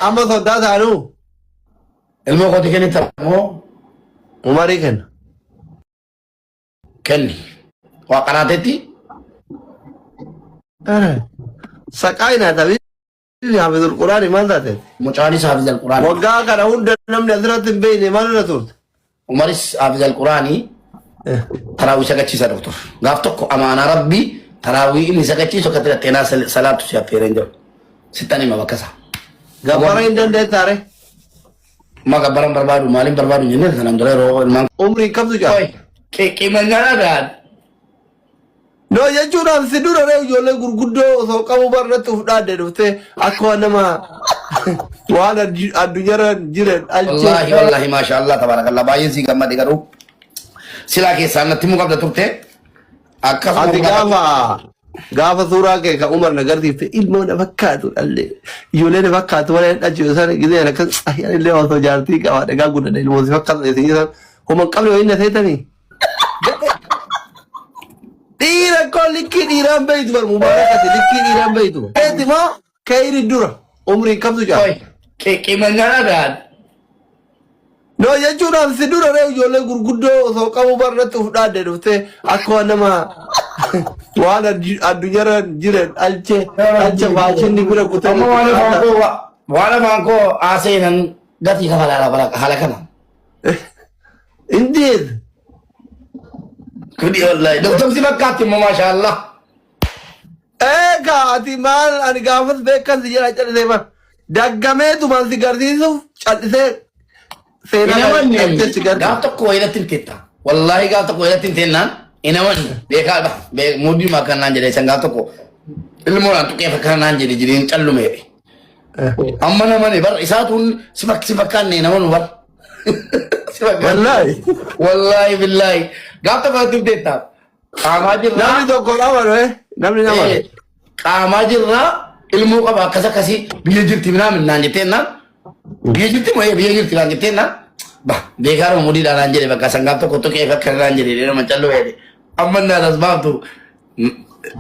Amma soddaa taanu ilmoo kooti kennita moo umarii kenna. kenni. Waa qaraatetti Saqaa hin haatabi. Haafizul Quraani maal taate? mucaanis haafizal quraana. Waggaa kana hunda namni asirratti hin beekne maalirra turte? Umaris Haafiz Alquraanii Eh, taraawwii sagachiisaa dhufu ture. Gaaf tokko amaanaa rabbii taraawwii inni sagachiisu akka tirate naa salaatu si affeereen jiru. Sittan hima bakka isaa. Gabbara hin dandeettaa ree? Ma gabbaran barbaadu maaliin barbaadu hin jennee sanaan dura yeroo ilmaan Umriin kamtu jaal? Qoy, qi- qimanyaa dhagaan. No jechuudhaan si dura ree ijoollee gurguddoo osoo qabu barratti uf dhaadde dhufte akka waan nama waan addu- addunyaarra jiran Wallaahi alcheessa. wallaahi maashaa Allah tabaarakallah baay'een sii gammade garuu silaa keessaan natti himuu qabda turte akkasuma Ati gaafa gaafa gaafa suuraa kee kan umar na garsiifte ilmoo na fakkaatu dhallee ijoollee na fakkaatu warra dhachuu isaan gisee akkas ayyaan illee osoo jaartii qaba dhagaa guddadha ilmoo si fakkaatu isin isaan homan qabne wayii na seetanii. Dhiira koo likkii dhiiraan beeytu bar mubaarakati likkii dhiiraan beeytu. Eeti moo keeyri dura umrii qabdu jaa. Qoy qima nyaadha gahaan. Noo jechuun an si dura ree ijoollee gurguddoo osoo qabu bar irratti uf dhaadde dhufte akka waan nama waan addu- addunyaarra jiran dhalche dhalcha faashinni bira kutee Amma waan afaan koo waan afaan koo haaseenan gatii kafalaa haala kana. Indeed. Kuni wallahi. Doktor si fakkaatti immoo maashaa Allah. Eegaa ati maal ani gaafas beekan si jedha callisee maal. Daggamee tuman si garsiisuuf callisee seenaa Hin amanne. callisee si garsiisa. Gaaf tokko wayilatti hin teetta. Wallahi gaaf tokko wayilatti hin teennaan hin amanne. Beekaa dha. Muudii maakan naan jedhee san gaaf tokko ilmoo naan tuqee fakkaan naan jedhe jedheen callumeedhe. Amma namani bar isaatuun si fak- si fakkaanne namanu bar. Si fakkaanne. Wallaahi. Wallaahi billaahi. Gaaf tokko irratti hubdeetta. Qaamaa jirraa. Namni tokko nama dhufe. Namni nama dhufe. Eh, Qaamaa jirraa ilmoo qaba akkas akkasii biyya jirti minaa minnaan jettee naan. Biyya jirti moo eh, biyya jirti naan jettee naan. Ba beekaa nama mudiidhaan naan jedhe bakka sangaaf tokko tokkee fakkaarraan jedhe nama calloo jedhe. Amma naan as baaftu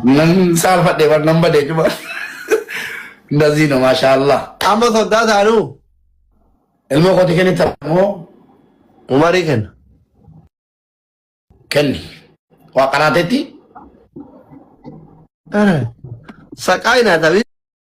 Nan saalfadhe bar nan bade juma. Ndazii no maashaallah. Amma soddaa taanuu Ilmoo kooti kennita moo umarii kenna. kenni. Waa qaraatetti Ara. Saqaa hin haatamin.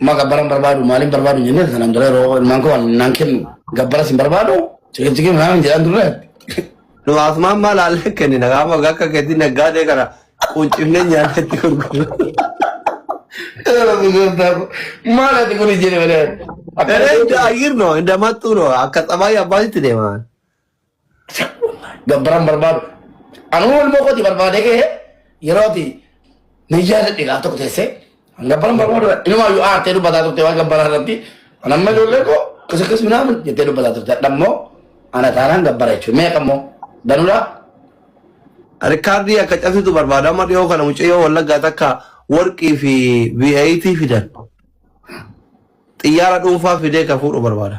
Amma gabbara hin barbaadu maaliin barbaadu hin jennee sanaan dura yeroo ilmaan koo waan naan kennu gabbaras hin barbaadu ciqilciqii manaa hin jedhaan turre. Nu asumaan maal haallee kennina gaafa akka keetii naggaadee kana quncifnee nyaanne itti gurgurra. Maal ati kun jenne malee. Eree inda ayyir no inda mattuu no akka xabaayii abbaasitti deemaan. Gabbaran barbaadu. Anuu ilmoo kooti barbaadee ka'ee yeroo ati niyyaa jedhe gaaf tokko teessee gabbaran barbaadu inumaa yoo aartee dubbataa turte waan gabbaraa irratti anamma ijoollee koo kisa kis minaamin jettee dubbataa turte adhammoo ana taanaan gabbara jechuudha meeqa immoo danuudhaa Rikaardii akka cabsitu barbaada amma dhiyoo kana mucayyoo wallaggaa takka warqii fi V8 fidan xiyyaara dhuunfaa fidee ka fuudhu barbaada.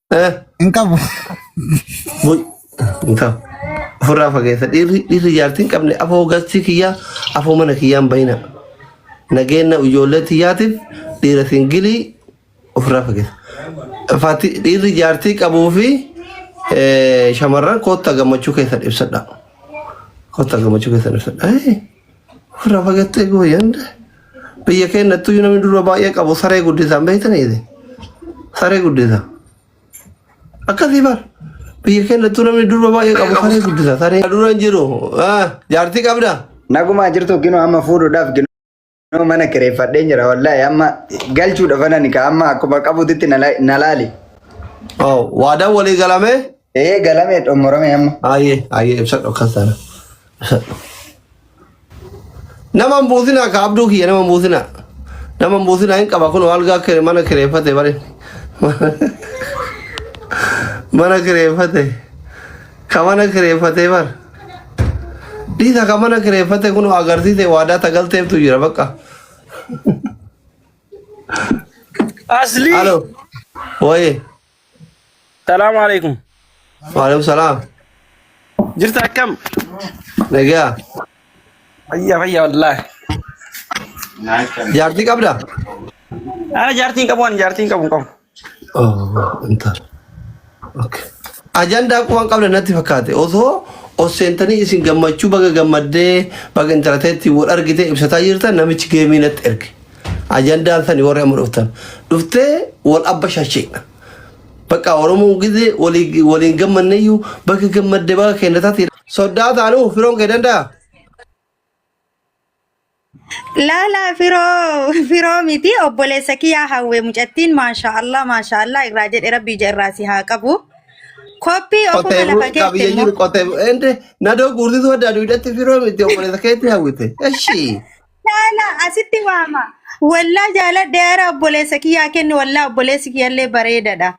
Eh, Hin qabu. bul- hin qabu. Ofirraa fageessa. Dhiirri dhiirri jaartii hin qabne afoo gastii kiyyaa afoo mana kiyyaan bahina. Nageenya ijoollee tiyyaatiif dhiira singilii ofirraa fageessa. Faati dhiirri jaartii qabuu fi eh, shamarran kootta gammachuu keessan ibsadha. Kootta gammachuu keessan ibsadha. Eh, Irraa fagattee gooyyan biyya keenyattuu yoo namni dura baay'ee qabu saree guddisaan beektaniiti. Saree guddisa. Akkasii bar biyya keenyattuu namni dura baay'ee qabu saree guddisa. Saree dura hin jiru. Jaartii qabda. Nagumaa jirtu ginoo amma fuudhuudhaaf ginoo mana kireeffadheen jira wallaahi amma galchuudha fanani ka amma akkuma qabutitti na laali. Waadaan walii galamee Ee galame xumurame amma. Aayee aayee ibsadhu akkas taana. Ibsadhu. Nama hin buusinaa ka abduu kiyya nama hin buusinaa. Nama hin buusinaa hin qaba kun algaa kire mana kireeffate bari. Mana kireeffate. Ka mana kireeffate bar. Dhiisa ka mana kireeffate kun agarsiise waadaa tagalteeftu jira bakka. Asli. Alo. Wayee. Salaamu alaikum. Waalaikum salaam. Jirta akkam? Nagaa. Fayyaa fayyaa wallaahi. Jaartii qabda? Ana jaartiin qabu ani jaartiin qabu hin qabu. Oh, intal. Okay. Ajandaa kuwaan qabda natti fakkaate. Osoo os seentanii isin gammachuu baga gammaddee baga intalateetti wal argitee ibsataa jirtan namichi geemii natti erge. Ajandaan sani warri amma dhuftan. Dhuftee wal abba shasheedha. Bakka Oromoon gizee walii- waliin gammanneeyyuu bakka gammadde baga keenya taate. Soddaa taanuu firoon kee danda'a. Laala firoo firoo miti obboleessa kiyyaa hawwe mucattiin maashaa Allah maashaa Allah irraa jedhe rabbi ija irraa si haa qabu. Koppii ofuma Qotee lafa bulu keetti qabiyyee immoo jiru qotee bulu. Ende nadoo guursituu adda aduudhatti firoo miti obboleessa keetti hawwite. Eshii. Jaala asitti waama. Wallaa jaaladhe ara obboleessa kiyyaa kenni wallaa obboleessi kiyyallee bareedadha.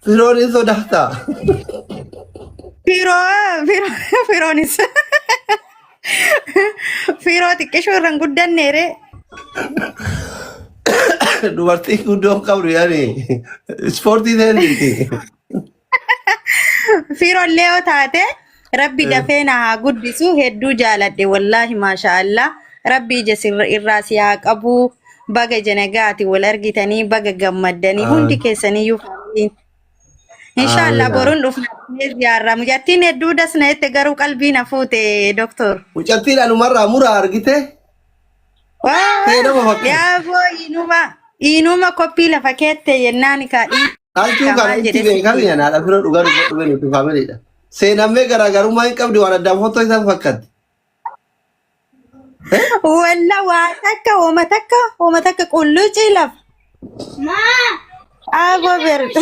Firoon hin sodaata. Firoo firoo firoonis firoo xiqqishuu irra hin guddanneere. Dubartii guddoo hin qabdu yaani. Ispoortii ta'e miti. Fiirollee yoo taate rabbi Eh, dafee na haa guddisu hedduu jaaladhe wallaahi maasha Allah rabbi ija sirra irraa si haa qabu baga ija nagaati wal argitanii baga gammaddanii hundi Amin. keessaniyyuu faartiin insha Allah Amin. Amin. boruun dhufna ziyaarra mucattiin hedduu das na jette garuu qalbii na fuute doktor. Mucattiin anumarraa muraa argite. Ta'ee nama fakkii. Yaa foo inuma inuma koppii lafa keettee yennaan kaa dhiin Halchuu kana maal itti jedhee beekan sitti. yanaadha bira dhugaa dhugaa dhugaa nuti faamiliidha. Seenammee garaagarummaa hin qabdu waan addaan fottoo isaan fakkaatti. Walla waa takka hooma takka hooma takka qullucii lafa. Aboo beerda.